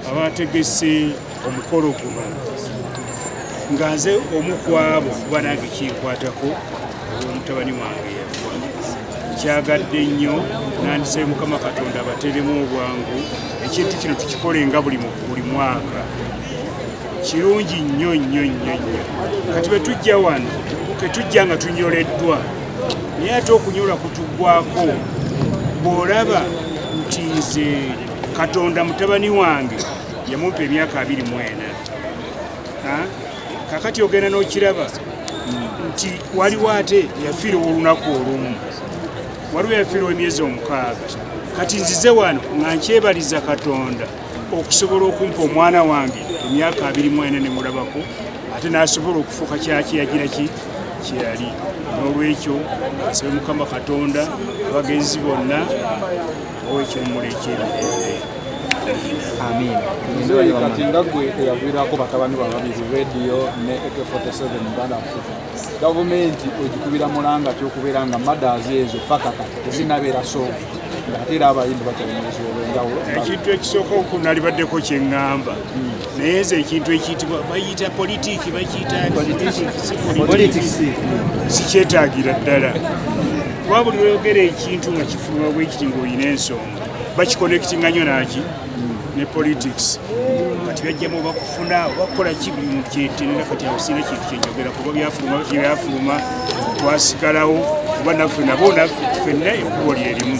abategese omukolo guno nga nze omu kwabo kuba nange kinkwatako omutabani wange yafa kyagadde nnyo nandisabe mukama katonda abateremu obwangu ekintu kino tukikole nga buli buli mwaka kirungi nnyo nnyo nnyo nnyo kati bwe tujja wano tetujja nga tunyoleddwa naye ate okunyola kutugwako bw'olaba nti nze katonda mutabani wange yamumpa emyaka abiri mwena kakati ogenda n'okiraba nti waliwo ate yafiira olunaku olumu waliwo yafiira emyezi omukaaga kati nzize wano nga nkyebaliza katonda okusobola okumpa omwana wange emyaka abiri mwena ne mulabako ate n'asobola okufuuka kyaki yagira ki kyeyali n'olwekyo asabe mukama katonda abagenzi bonna owekiwumulo ekyemirembe amiina nzeyi kati nga gwe eyaviirako batabani ba babiri radio ne ak 47 uganda africa gavumenti ogikubira mulanga ti okubeera nga madazi ezo paka kati tezinabeera sooka ngaate era abayimbi bakyalimuzibu olwenjawulo ekintu ekisooka okunalibaddeko kyeŋŋamba hmm. naye nze ekintu ekiyitibwa bayita politiki bakiyitapolitikisi sikyetagira ddala kuba buli lweyogera ekintu nga kifunwa bwekiti ngaolina ensonga bakikonekitinga nyo naki ne politics kati byajjamu oba kufuna oba kukola ki buli muntu kyetenera kati awo sina kintu kyenjogera kuba byafuluma byafuluma twasigalawo kuba naffe nabo naffe fenna ekubo lyerimu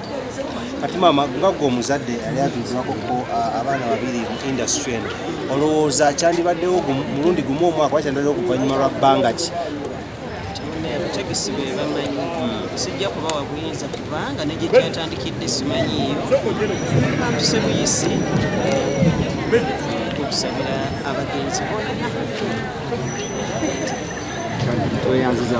kati maama nga gwe omuzadde yali aviibwako ko abaana babiri mu industry eno olowooza kyandibaddewo mulundi gumu omwaka oba kyandibaddewo okuvannyuma lwa bbanga ki abategesi be bamanyi sijja kubawa buyinza kubanga ne gye kyatandikidde simanyiiyo bantuse buyisi okusabira abagenzi bona tweyanziza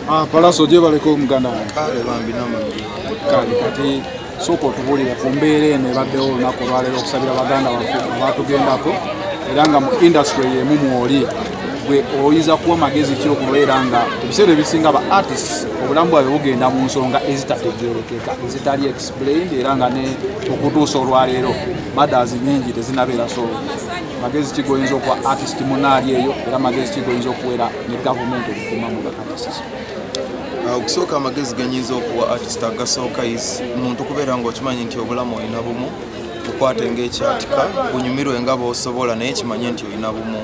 Ah, Palaso gyebaleko muganda wange kale bambi namagi kale kati sooka otubulire ku mbeera eno ebaddewo olunaku olwaleero okusabira baganda baffe abatugendako era nga mu industry yemu mwoli gwe oyinza kuwa magezi ki okubeera nga ebiseera ebisinga ba artists obulamu bwabwe bugenda mu nsonga ezitategerekeka ezitali explained era nga ne okutuusa olwaleero madazi nyingi tezinabeera so magezi kigoyinza okuwa artist munaali eyo era magezi kigoyinza okuwera ne gavumenti okukuma mu bakakasizo ah, okusooka amagezi genyinza okuwa artist agasooka is muntu kubeera ngaokimanyi nti obulamu olina bumu okwate ngaekyatika bunyumirwe nga bosobola naye kimanye nti olina bumu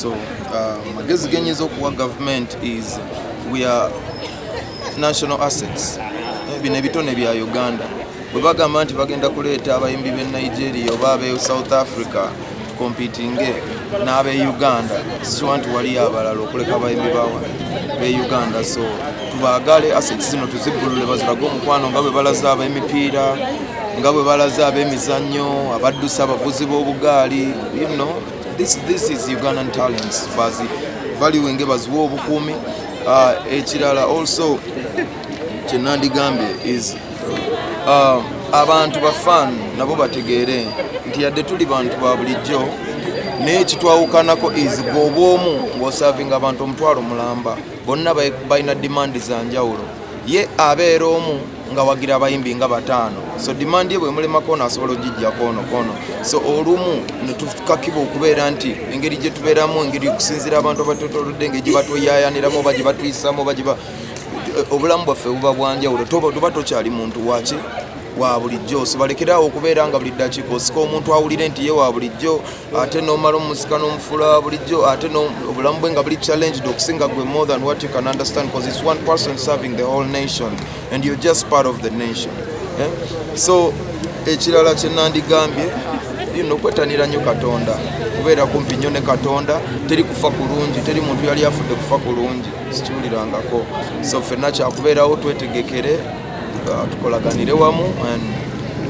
so ah, amagezi genyinza okuwa gavument is weare national assets eh, bino ebitone bya uganda bwe bagamba nti bagenda kuleeta abayimbi b'e nigeria oba ab'e south africa tukompitinge n'ab'e uganda sikiwa nti waliyo abalala okuleka abayimbi bawa b'e uganda so tubaagale aseti zino tuzibbulule bazirage omukwano nga bwe balaze ab'emipiira nga bwe balaze ab'emizannyo abaddusi abavuzi b'obugaali you know, this, this is ugandan talents bazi valuinge baziwa obukuumi uh, ekirala also kyenandigambye is Ah, abantu bafan nabo bategeere nti yadde tuli bantu ba bulijjo naye kitwawukanako is gobwomu ng'osavinga abantu omutwalo mulamba bonna balina dimandi za njawulo ye abeera omu nga wagira abayimbi nga bataano so dimandi ye bwemulemako naasobola ogijja koono koono so olumu netukakiba okubeera nti engeri gyetubeeramu engeri okusinzira abantu abatotolodde engeri gyebatweyayaniramu oba gyebatuyisaamu oba obulamu bwaffe buba bwanjawulo tuba tokyali muntu waki wa bulijjo sibalekerawo okubeera nga buli ddakiika osika omuntu awulire nti ye wa bulijjo ate nomala omusika n'omufula wa bulijjo ate obulamu bwe nga buli challenged okusinga gwe more than what you can understand because it's one person serving the whole nation and you're just part of the nation eh? so ekirala kye nandigambye ino kwetanira nnyo katonda kubeera kumpi nnyo ne katonda teri kufa kulungi teri muntu yali afudde kufa kulungi sikiwulirangako so fenna kyakubeerawo twetegekere uh, tukolaganire wamu and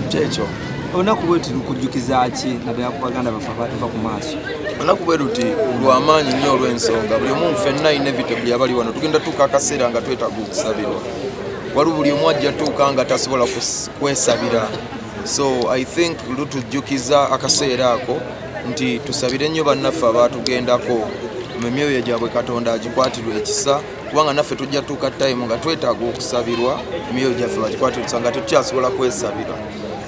kyekyo olunaku bweruti lukujjukiza ki naddala ku baganda baffe abatuva ku maaso olunaku bweruti lwamaanyi nnyo olw'ensonga buli omu fenna inevitably abali wano tugenda tuuka akaseera nga twetaaga okusabirwa waliwo buli omu ajja tuuka nga tasobola kwesabira so i think lutujjukiza akaseera ako nti tusabire nnyo bannaffe abaatugendako mu myoyo gyabwe katonda agikwatirwa ekisa kubanga naffe tujja tuuka tayimu nga twetaaga okusabirwa emyoyo gyaffe bagikwatirwa ekisa nga tetukyasobola kwesabira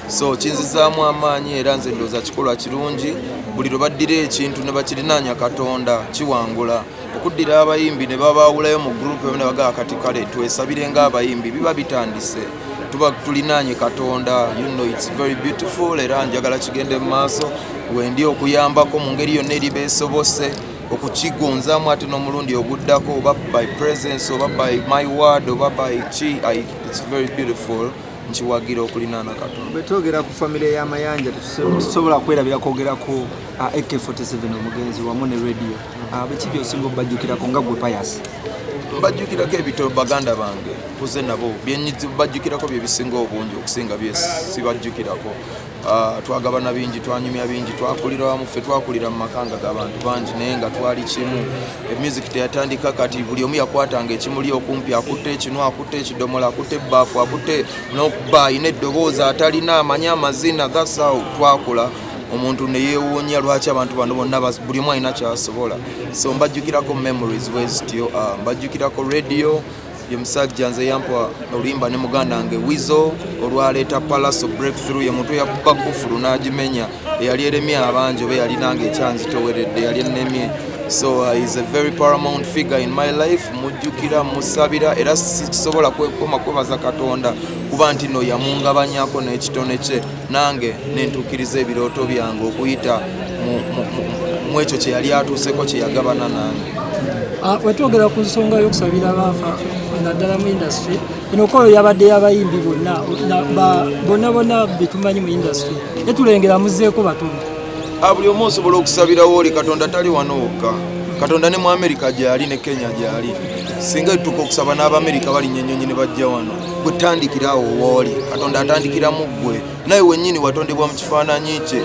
so kinzizaamu amaanyi era nze ndooza kikolwa kirungi buli lwe baddira ekintu ne bakirinaanya katonda kiwangula okuddira abayimbi ne babaawulayo mu gurupu emu ne bagaa kati kale twesabire ng'abayimbi biba bitandise tuba tulinaanye katonda you know it's very beautiful era njagala kigende mu maaso wendi okuyambako mu ngeri yonna eri beesobose okukigonzaamu ate n'omulundi oguddako oba by presence oba by my word oba by ki it's very beautiful nkiwagira okulinaana katonda bwetwogera ku famire y'amayanja tusobola kwerabira kwogerako AK47 omugenzi wamu ne radio abiki ah, byosinga obajjukirako nga gwe payasi mbajjukirako ebito baganda bange kuze nabo bajjukirako byebisinga obungi okusinga byesibajjukirako ah, twagabana bingi twanyumya bingi twakulira wamu ffe twakulira mu makanga gabantu bangi naye nga twali kimu emusic teyatandika kati buli omu yakwatanga ekimuli okumpi akutte ekinu akutte ekidomola akutte ebbaafu akutte nokuba ayina eddoboozi atalina amanyi amazina thats how twakula omuntu neyewuunya lwaki abantu bano bonna buli omu alina kyasobola so mbajjukirako memories wezityo ah, mbajjukirako radio ye musajja nze yampa oluyimba ne muganda wange wizo olwaleeta palaso breakthrough ye muntu yakuba kufulu n'agimenya eyali eremye abangi oba eyali nange ekyanzitoweredde yali ennemye so uh, is a very paramount figure in my life mujjukira musabira era sisobola kwekoma kwebaza katonda kuba nti no yamungabanyako n'ekitone kye nange nentuukiriza ebirooto byange okuyita mu ekyo kye yali atuuseko kye yagabana nange ah, wetwogera ku nsonga y'okusabira abaafa naddala mu industry eno kolo yabadde yabayimbi bonna bonna bonna betumanyi mu industry netulengera muzeeko batono ah, buli omu osobola okusabirawo oli katonda tali wano wokka katonda ne mu amerika gyali ne kenya gyali singa etutuka okusaba n'abamerika balinnya ennyonyi ne bajja wano gwe tandikirawo wooli katonda atandikiramu ggwe naye wennyini watondebwa mu kifaananyi kye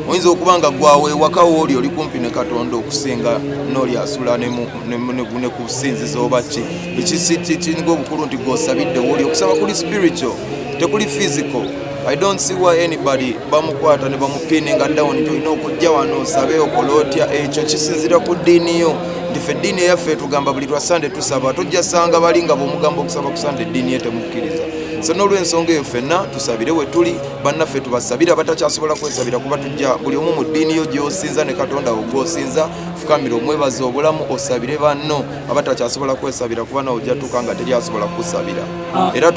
oyinza okuba nga gwawo ewaka wooli oli kumpi ne katonda okusinga nooli asula ne kusinziza oba ki ekisikikiringa obukulu nti gwosabidde wooli okusaba kuli spiritual tekuli physical i don't see why anybody bamukwata ne bamupininga down nti olina okujja wano osabe okola otya ekyo kisinzira ku ddiini yo nti fe eddiini eyaffe etugamba buli lwa sande tusaba tojja sanga bali nga bwomugamba okusaba ku sande eddiini ye temukkiriza so n'olwensonga eyo fenna tusabire we tuli bannaffe tubasabire abatakyasobola kwesabira kuba tujja buli omu mu ddiini yo gy'osinza ne katonda wo gw'osinza fukamira omwebaza obulamu osabire banno abatakyasobola kwesabira kuba nawe ojja tuuka nga teri asobola kukusabira era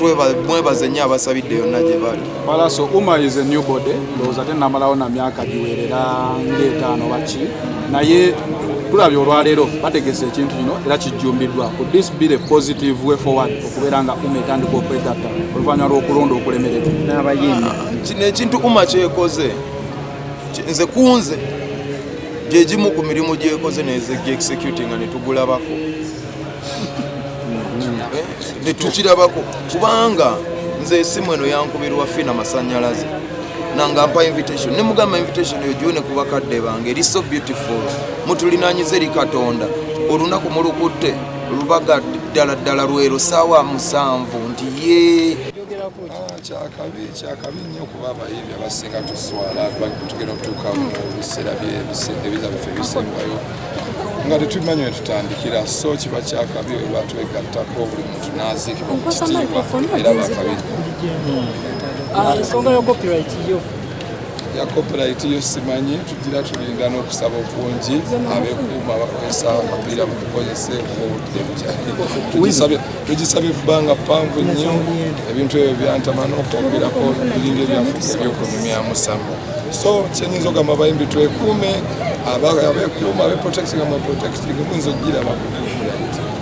mwebaze nnyo abasabidde yonna gye bali palaso uma is a new body ndowooza te namalawo na myaka giwerera ngaetaano baki naye tulabye olwaleero bategese ekintu kino era kijjumbiddwa ku this be the positive way forward okubeera nga uma etandika okwegatta oluvannyuma lw'okulonda okulemererwa n'abayimbi kino ekintu uma kyekoze nze kunze gyegimu ku mirimu gyekoze neze gi executinga netugulabako eh, ne tukirabako kubanga nze esimu eno yankubirwa fina masanyalaze nanga mpa invitation ne mugamba invitation eyo gyone ku bakadde bange eri so beautiful mutulinanyize eri katonda olunaku mulukutte lubaga ddala ddala lwero saawa musanvu nti yee kyakabi kyakabi nnyo kuba abayimbi abasinga tuswala tugenda okutuuka mu biseera ebiza biffe ebisembayo nga tetumanyi wetutandikira so kiba kyakabi oba twegattako buli muntu naziikibwa mu kitiibwa era bakabi ah, ensonga ya copyright yo ya copyright yo simanyi tugira tulinda n'okusaba okungi abekuuma bakozesa akapiira mukukozese obudde bukyali tugisabye kubanga panvu nnyo ebintu ebyo byantama n'okwogerako biringa ebyafuuka ebyokunyumyamu samu so kyenyinza ogamba bayimbi twekuume abekuuma abeprotecting ama protecting muyinza okugiraba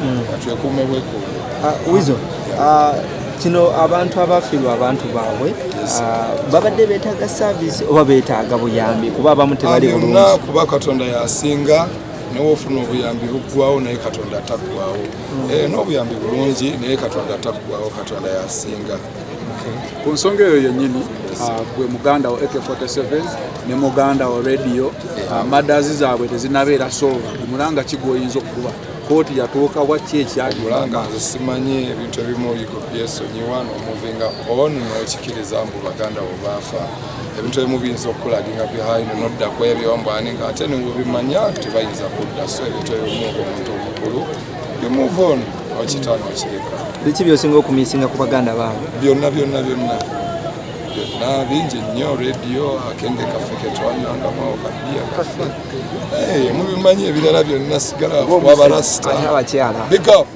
hmm. twekuume bwekuume ah, wizo ah, kino abantu abafiirwa abantu baabwe ah, babadde betaaga service oba betaaga buyambi kuba abamu tebali bulungi kuba katonda yasinga nawe ofuna obuyambi buggwawo naye katonda ataggwawo Eh, n'obuyambi bulungi naye katonda taggwawo katonda yasinga ku nsonga eyo yennyini ah, gwe muganda wo ak47 ne muganda wo radio ah, madazi zaabwe tezinabeera soba omulanga ki gwoyinza okukuba kooti yatuuka wakki ekyamulanga nze simanyi ebintu ebimu oyigo byesonyiwa nomuvinga on nokikiriza mbu baganda wo baafa ebintu ebimu biyinza okukulaginga behind nodda ku ebyo mbwani nga ate newebimanya tebayinza kudda so ebintu ebimu omuntu omukulu you move on okitano okireka biki byosinga okumisinga ku baganda baabo byonna byonna byonna byonna bingi nnyo rediyo akenge kaffe ketwanyangamu kabiya kaffe eh, mubimanyi ebirala byonna sigala wabarasita big up